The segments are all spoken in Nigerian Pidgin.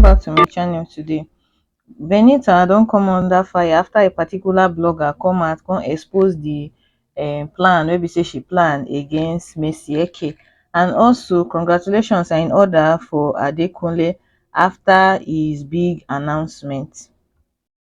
back to my channel today. Benita don come under fire after a particular blogger come out come expose the um plan wey be say she plan against Mercy Eke and also congratulations are in order for Adekunle after his big announcement.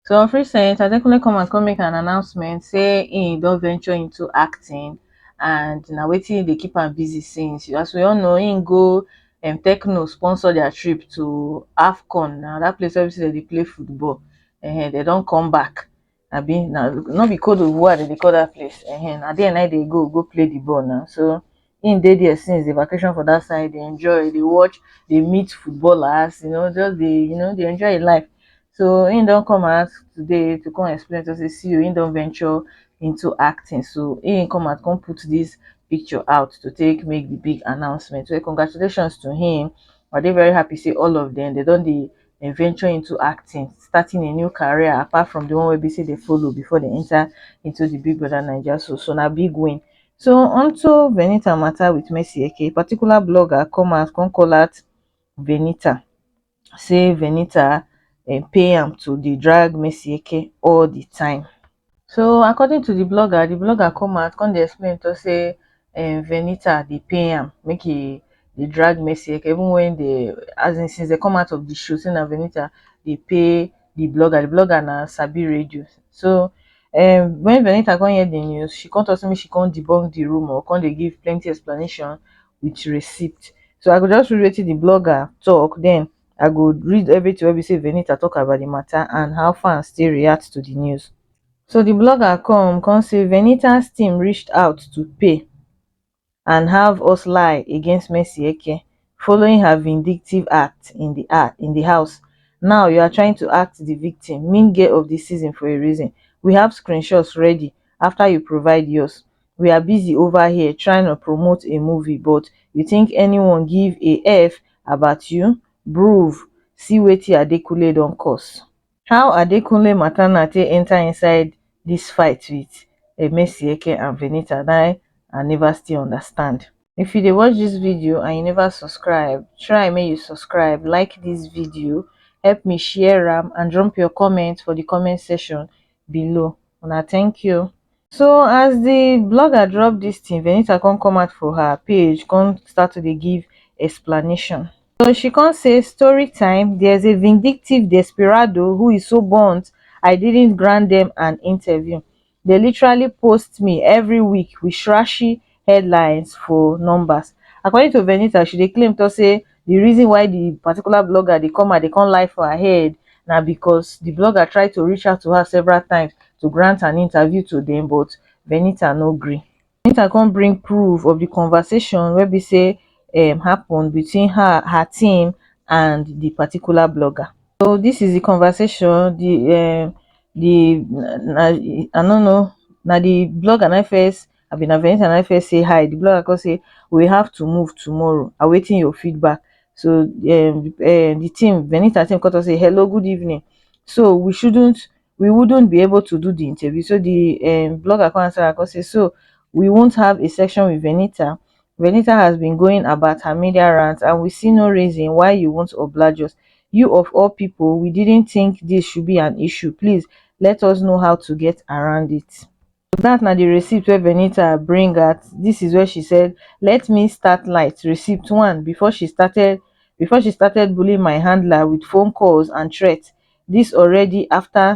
Some feel say Adekunle come out come make an announcement say he don venture into acting and na wetin e dey keep am busy since. As we all know, he go um, Tecno sponsor their trip to AFCON, na that place where they play football. Uh, they don't come back. I mean, now, not be code of war, they call that place. Uh, now there, now they go, go play the ball now. So, him dey there since dey vacation for that side dey enjoy dey watch dey meet footballers you know just dey you know dey enjoy him life so him don come out today to come explain to say see o him don venture into acting so him come out come put this picture out to take make the big announcement well congratulations to him I dey very happy say all of them they don dey dem venture into acting starting a new career apart from the one wey be say dey follow before they enter into the big brother naija so so na big win So onto Venita matter with Mercy Eke, a particular blogger come out come call out Venita, say Venita um, pay am to dey drag Mercy Eke all the time. So according to the blogger, the blogger come out come dey explain to say um, Venita dey pay am make he dey drag Mercy Eke even when they as in since they come out of the show, say na Venita dey pay the blogger the blogger na sabi radio so um when Venita come hear the news she come talk say make she come debunk the rumor come dey give plenty explanation with receipt so I go just read wetin the blogger talk then I go read everything wey be say Venita talk about the matter and how fans take react to the news so the blogger come come say Venita's team reached out to pay and have us lie against mercy eke following her vindictive act in di act in di house now you are trying to act di victim mean girl of di season for a reason we have screenshots ready after you provide yours we are busy over here trying to promote a movie but you think anyone give a f about you bruv see wetin adekunle don cause how adekunle materna take enta inside dis fight wit emesieke and venita na i neva still understand if you dey watch dis video and you neva subscribe try make you subscribe like dis video help me share am and drop your comment for di comment section below una thank you so as the blogger drop this thing venita come come out for her page come start to dey give explanation so she come say story time there's a vindictive desperado who is so burnt i didn't grant them an interview they literally post me every week with trashy headlines for numbers. According to Venita, she dey claim talk say the reason why the particular blogger dey come her dey come lie for her head na because the blogger try to reach out to her several times to grant an interview to them, but Venita no gree. Venita come bring proof of the conversation wey be say um happen between her, her team and the particular blogger. So this is the conversation, the um the I no know, na the blogger na im first I be na be anytime I first say hi, di blogger come say we have to move tomorrow, awaiting your feedback. So um um di team, Venita team come talk say hello good evening, so we shouldn't we wouldn't be able to do di interview, so di um blogger come answer am come say so we won't have a section with Venita, Venita has been going about her media rounds and we see no reason why you won't oblige us, you of all people we didn't think dis should be an issue, please let us know how to get around it. so dat na di receipt wey venita bring out dis is wen she said let me start light receipt one bifor she started bifor she started bullying my handler wit phone calls and threats dis already afta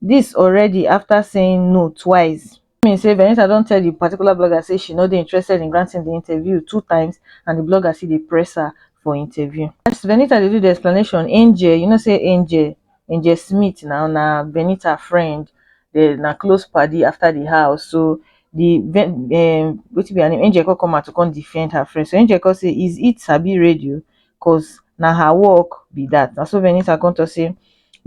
dis already afta saying no twice dis mean say venita don tell di particular blogger say she no dey interested in granting di interview two times and di blogger still dey press her for interview as venita dey do di explanation angel you know say angel angel smith na na benita friend dey na close padi after the house so the um wetin be her name angel come come out to come defend her friend so angel come say is it sabi radio cause na her work be that na so benita come talk say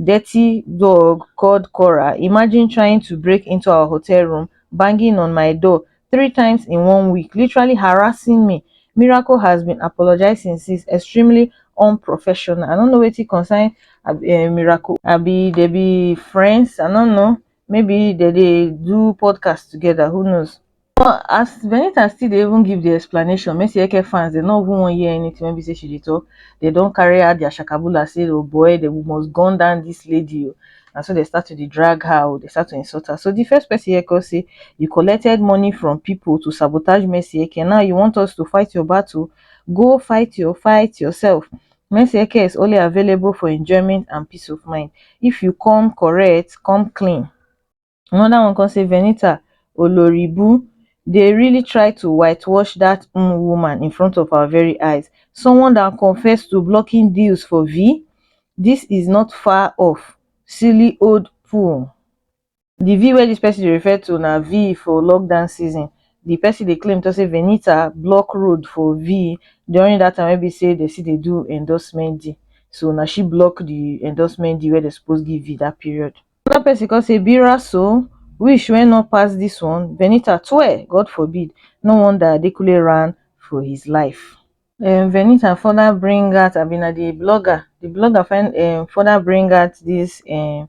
dirty dog called cora imagine trying to break into our hotel room banging on my door three times in one week literally harassing me miracle has been apologising since extremely unprofessional i don't know wetin concern uh, miracle abi they be friends i don't know maybe they dey do podcast together who knows but as benita still dey even give the explanation messi eke fans dey no even wan hear anything wey be say she dey talk they don carry out their shakabula say oh boy they must gun down this lady o oh. na so dey start to dey drag her oh, dey start to insult her. So the first person here come say, you collected money from people to sabotage Mercy Eke, now you want us to fight your battle? Go fight your fight yourself. Mercy Eke is only available for enjoyment and peace of mind. If you come correct, come clean. Another one come say Venita oloribu dey really try to white wash that um woman in front of our very eyes someone that confessed to blocking deals for vi this is not far off silly old pool the vi wey this person dey refer to na vi for lockdown season the person dey claim to say Venita block road for vi during that time wey be say they still dey do endorsement deal so na she block the endorsement deal wey they suppose give vi that period. Another person come say Bira so wish wey no pass this one Venita twe God forbid no wonder Adekunle ran for his life. um Venita further bring out abi na the blogger the blogger find um further bring out this um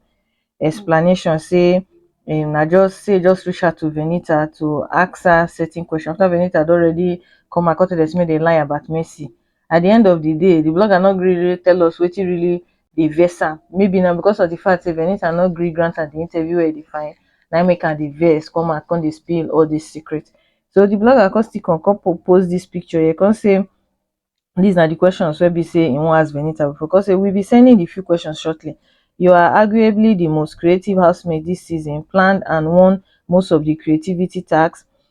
explanation say um na just say e just reach out to Venita to ask her certain question after Venita don already come out come tell dem say make dem lie about Mercy at the end of the day the blogger no gree really tell us wetin really dey vex am maybe na because of the fact say Venita no gree grant am the interview wey e dey find na im make am dey vex come out come dey spill all this secret so the blogger come still come come po- post this picture here come say these na the questions wey be say he wan ask Venita before come say we be sending the few questions shortly you are arguably the most creative housemate this season planned and won most of the creativity task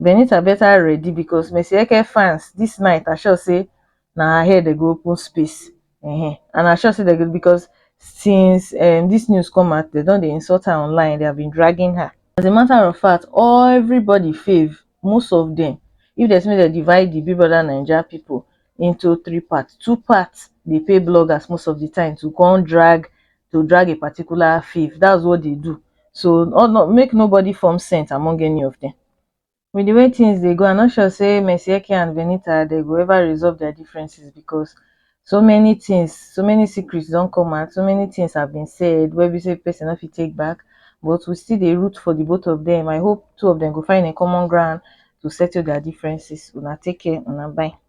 benitha better ready because mercy eke fans this night are sure say na her head dem go open space um and are sure say dem go because since um this news come out dem don dey insult her online they have been dragging her as a matter of fact all everybody fave most of them if dem say make dem divide the big brother naija people into three part, two part dey pay bloggers most of di time to come drag to drag a particular fave dats what dey do so no make nobody form scent among any of dem. With di way tins dey go I no sure sey Mercy Eke and Venita dey go ever resolve dia differences because so many tins so many secrets don come out so many tins have been said wey be sey person no fit take back but we still dey root for di both of dem I hope two of dem go find a common ground to settle dia differences una take care una bye.